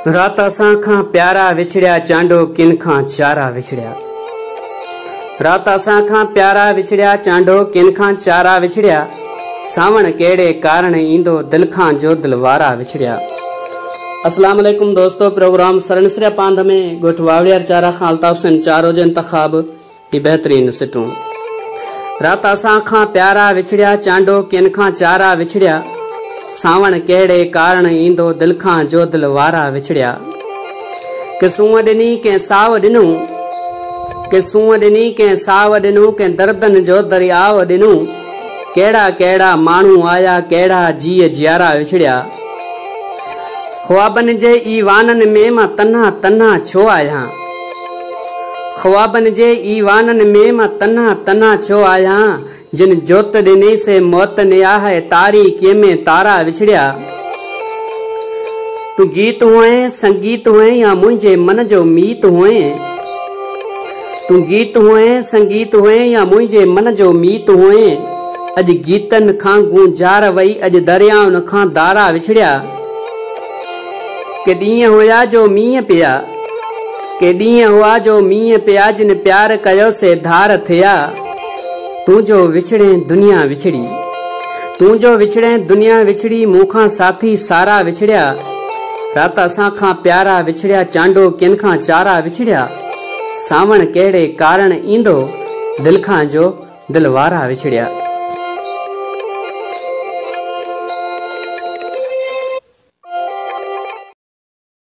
رات اسان کان پيارا وڇڙيا چانڊو ڪن کان چارا وڇڙيا رات اسان کان پيارا وڇڙيا چانڊو ڪن کان چارا وڇڙيا ساوڻ ڪهڙي ڪارڻ ايندو دل کان جو دل وارا وڇڙيا السلام علیکم دوستو پروگرام سرنسريا پانڌ ۾ ڳوٺ واوڙيار چارا کان الطاف سين چارو جو انتخاب هي بهترين سٽون رات اسان کان پيارا وڇڙيا چانڊو ڪين کان چارا وڇڙيا ساوڻ ڪهڙي ڪارڻ ايندو دل کان جو دل وارا وڇڙيا ڪي سونء ڏني ڪنهن ساو ڏنو ڪي سونء ڏني ڪنهن ساو ڏنو ڪنهن دردن جو درياء ڏنو ڪهڙا ڪهڙا ماڻهو آيا ڪهڙا جيء جيارا وڇڙيا خوابن جي اي وانن ۾ مان تنها تنها ڇو آهيان خوابن جي ايوانن ۾ مان تنها تنها ڇو آهيان جن جوت ڏني سي موت نياهه تاريڪيء ۾ تارا وڇڙيا تون گيت هئين سنگيت هئين يا منهنجي من جو ميت هئين تون گيت هئين سنگيت هئين يا منهنجي من جو ميت هئين اڄ گيتن کان گونجار وئي اڄ دريائن کان دارا وڇڙيا ڪي ڏينهن هيا جو مينهن پيا. ڪي ڏينهن هئا جو مينهن پيا جن پيار ڪيو سي ڌار ٿيا تون جو وڇڙين دنيا وڇڙي تون جو وڇڙين دنيا وڇڙي مون کان ساٿي سارا وڇڙيا رات اسان کان پيارا وڇڙيا چانڊو ڪين کان چارا وڇڙيا ساوڻ ڪهڙي ڪارڻ ايندو دل کان جو دل وارا وڇڙيا.